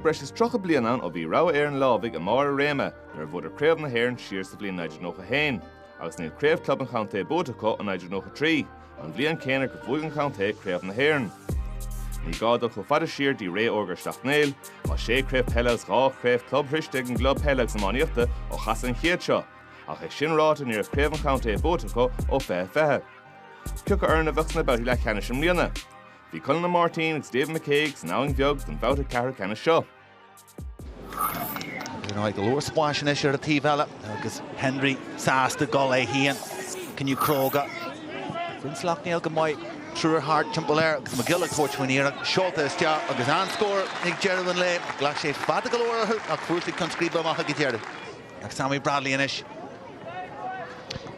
breis is tríocha bliain ann ó bhí Rogha Éireann Leamhaigh i mbarr a réime nuair a bhuadar Craobh na hÉireann siar sa bhliain 1991 agus níl craobh club an chontae buaite acu ó 1993, an bhliain céanna gur bhuaigh an contae Craobh na hÉireann. Ní gá dul chomh fada siar dtí ré órga Shleacht Néill, tá sé chraobh peile agus dhá chraobh club sroiste ag an gclub peile agus iománaíochta ó chasadh an chéid seo, ach é sin ráite ní raibh craobh an chontae buaite acu ó 2020. Cioca foireann a bheadh sna babhtaí leathcheannais i mbliana? Bhí Conall Ó Máirtín agus David McCague san Abhainn Bheag don bhabhta ceathrú ceannais seo. Is in aghaidh go leor spás anois ar an taobh eile agus Henry sásta dul leis féin cinneadh cróga. Bhain Sleacht Néill go maith triúr thart timpeall air agus McGill ag tabhairt faoin iarracht seolta isteach agus an-scór ag deireadh an lae. Ghlac sé fada go leor orthu ach fuair siad ceann scríbe amach ag an deireadh. Ag Sammy Bradley anois.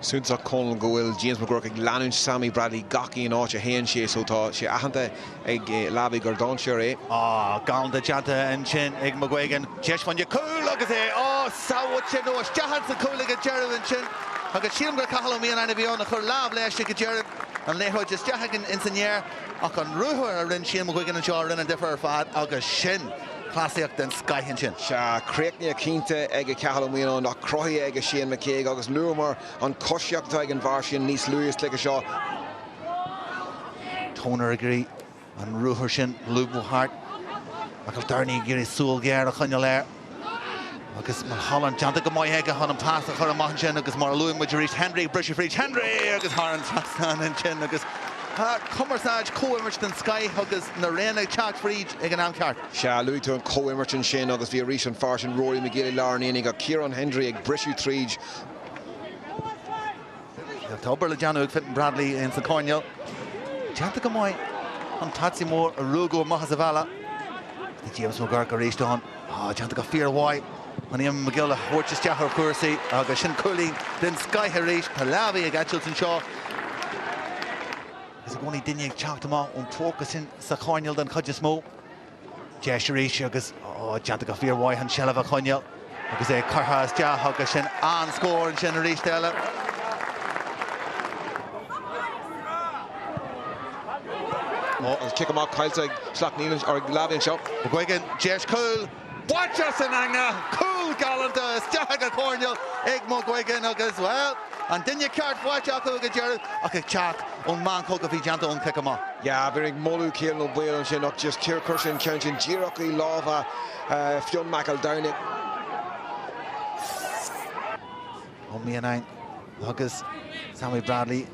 Suntasach Conal go bhfuil James McGurk ag leanúint Sammy Bradley gach aon áit a théann sé so tá sé aitheanta ag Leamhaigh gur dainséar é. Ah, galánta déanta ansin ag McGuigan. Deis chun de chúl agus é á sábháilt nó isteach ins an chúl ag an deireadh ansin agus sílim gur Cathal Ó Mianáin a bhí ann a chuir lámh leis ag an deireadh, an liathróid isteach ins an aer ach an ruathar a rinne Shane McGuigan anseo a rinne an difear ar fad agus sin. cleasaíocht den scoith ansin. Sea, críochnaithe cinnte ag a Cathal Ó Mianáin, ach cruthaithe ag a Shane McCague, agus luamar an choisíocht atá ag an bhfear sin níos luaithe sa cluiche seo. Toner ag iarraidh an ruathar sin lúbadh thart, McEldowney ag iarraidh súil ghéar a choinneáil air. Agus Mulholland déanta go maith aige chun an pas a chur amach ansin agus mar a luaigh muid arís Henry ag briseadh fríd Henry agus thar an trasnán ansin agus cumarsáid comhimirt den scoith agus an runner ag teacht fríd ag an am ceart. Sea, luaigh tú an comhimirt ansin agus bhí arís an fear sin Rory McGill i lár an aonaigh ach Kieran Hendry ag briseadh tríd. Tá obair le déanamh ag Fintan Bradley ins an coirnéal. Déanta go maith an taití mór a ruaigeadh amach as a bhealach. Tá James McGurk arís ann. Tá déanta go fíormhaith chun Éamonn McGill a thabhairt isteach ar chúrsaí agus sin cúilín den scoith arís. Tá Leamhaigh ag eitilt anseo. Is i gcónaí duine ag teacht amach ón phóca sin sa choirnéal den chuid is mó. Deis arís agus déanta go fíormhaith an tseilbh a choinneáil agus é curtha isteach agus sin an scór ansin arís eile. An cic amach caillte agus Sleacht Néill ar an liathróid anseo. McGuigan, deis cúil, bainte as an eangach, cúl galánta isteach ag an gcoirnéal ag McGuigan agus, bhuel, an duine ceart faighte acu ag an deireadh ach ag teacht ón meancóg a bhí déanta ón chic amach. Yeah, bhí ag moladh Ciarán Ó Baoill ansin ach just chuir chuir sé an ceann sin díreach i lámha Fionn McEldowney. Ó Mianáin agus Sammy Bradley.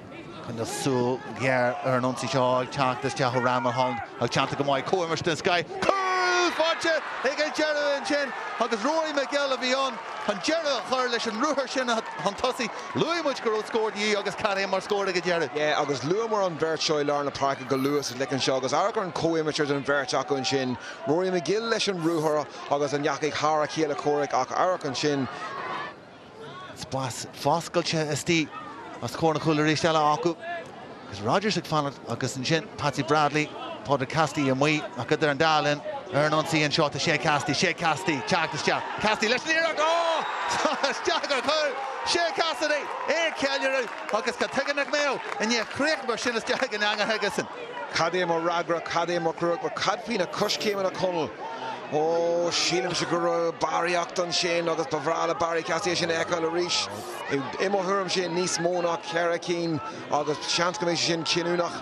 Coinneoidh súil ghéar ar an ionsaí seo ag teacht isteach ó Ryan Mulholland ach déanta go maith ag Cóil Martin Sky. Cúl faighte ag an deireadh ansin agus Rory McGill a bhí ann chun deireadh a chur leis an ruathar sin chun tosaigh. Luaigh muid go raibh scór de dhíth agus cad é mar scór ag an deireadh. Yeah agus luamar an bheirt seo i lár na páirce go luath sa gcluiche anseo agus amharc ar an chomhimirt idir an bheirt acu ansin. Rory McGill leis an ruathar agus a ndeachaigh thar a chéile Corrick ach amharc ansin, Spás foscailte istigh os comhair an chúil arís eile acu agus Rodgers ag fanacht agus ansin Patsy Bradley, Pádraig Cassidy amuigh ach idir an dá linn ar an ionsaí anseo tá Shea Cassidy, Shea Cassidy, teacht isteach, Cassidy leis an iarracht, á! Tá isteach sa chúl! Shea Cassidy é ag ceiliúradh agus cad chuige nach mbeadh i ndiaidh críoch mar sin isteach chuig an eangach aigesan. Cad é mar fhreagra? Cad é mar chúl? Cad faoi na coiscéimeanna, a Chonaill? Ó, sílimse go raibh barraíocht ansin agus ba bhreá le Barry Cassidy é sin a fheiceáil arís. I mo thuairimse, níos mó ná ceithre cinn agus seans go mbeidh sé sin cinniúnach.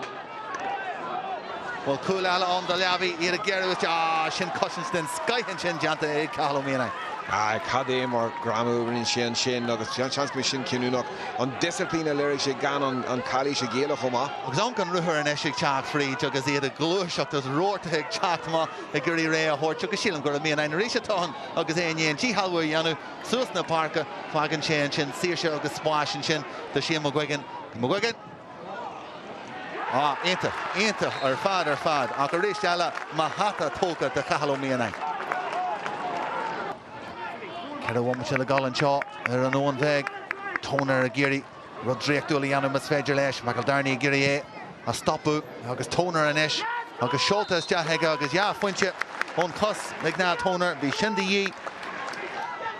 Bhuel, cúl eile ann do Leamhaigh, iad ag géarú istigh. Á, sin cosaint den scoith ansin déanta ag Cathal Ó Mianáin. Á, cad é mar ghreamú a rinne sé ansin agus seans go mbeidh sin cinniúnach. An disciplín a léirigh sé gan an chalaois a ghéilleadh chomh maith. Agus amharc an ruathar anois ag teacht fríd agus iad ag gluaiseacht agus reathaithe ag teacht amach ag iarraidh rogha a thabhairt agus sílim gur Ó Mianáin arís atá ann agus é i ndiaidh an díshealbhú a dhéanamh suas na páirce, fágann sé ansin saoirse agus spás ansin do Shane McGuigan. McGuigan. Á, iontach, iontach ar fad ar fad ach arís eile mo hata tógtha do Chathal Ó Mianáin. Ceithre bhomaite le dul anseo ar an Abhainn Bheag. Toner ag iarraidh. rud draíochtúil a dhéanamh más féidir leis, McEldowney ag iarraidh é a stopadh agus Toner anois agus seolta isteach aige agus dhá phointe ón chos ag Niall Toner, bhí sin de dhíth.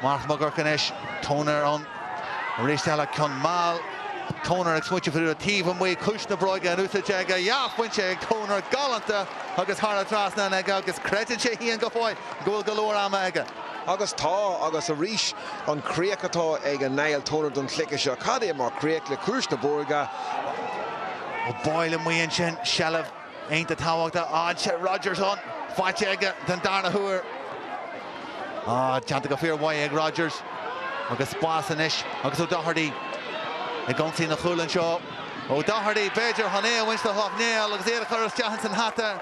Mark McGurk anois, Toner ann arís eile, ceann mall, Toner ag smaointiú faoi rud taobh amuigh, ciumhais na bróige in úsáid aige, dhá phointe ag Toner, galánta agus thar an trasnán aige agus creideann sé féin go fóill go bhfuil go leor ama aige. Agus tá, agus arís, an chríoch atá ag Niall Toner don chluiche seo, cad é mar chríoch le ciumhais na bróige! Ó Baoill amuigh ansin, seilbh iontach tábhachtach anseo. Rodgers ann, faighte aige den darna huair. Á, déanta go fíor mhaith ag Rodgers. Agus spás anois agus O'Doherty ag ionsaí an chúil anseo. O'Doherty, b'fhéidir, chun é a bhaint do Shleacht Néill agus iad a chur isteach ins an hata.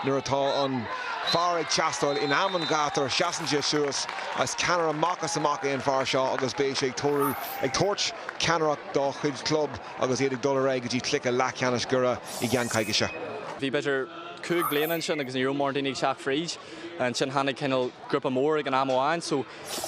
Nuair atá an fear ag teastáil in am an ghátair seasann sé suas. Is ceannaire amach is amach é an fear seo agus beidh sé ag treorú, ag tabhairt ceannaireacht dá chuid club agus iad ag dul ar aghaidh go dtí cluiche leathcheannais Dhoire i gceann coicíse. Bhí b'fhéidir cúig bliana ansin agus ní raibh mórán daoine ag teacht fríd. Ansin tháinig cineál grúpa mór ag an am amháin so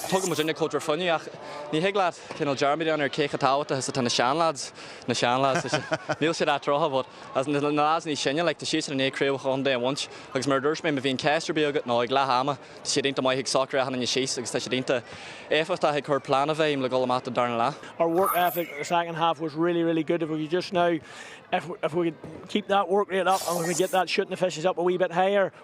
tugadh muid ann ag Cultúr Fionnaidh ach ní thig leat, cineál dearmaid ann ar cé chomh tábhachtach is atá na seanleaids, na seanleaids, leis. Níl siad iontach sean, but, as in, na leaids níos sine, like, tá siadsan i ndiaidh craobhacha an chontae a bhaint agus mar a dúirt mé, má bhíonn ceist ar bith agat, nó ag leath ama, tá siad iontach maith ag socrú achan duine síos agus tá siad iontach éifeachtach ag cur plean i bhfeidhm le dul amach don darna leath. our work ethic the second half was really, really good. If we could just now, if, if we could keep that work rate up and we could get that shooting efficiency up a wee bit higher,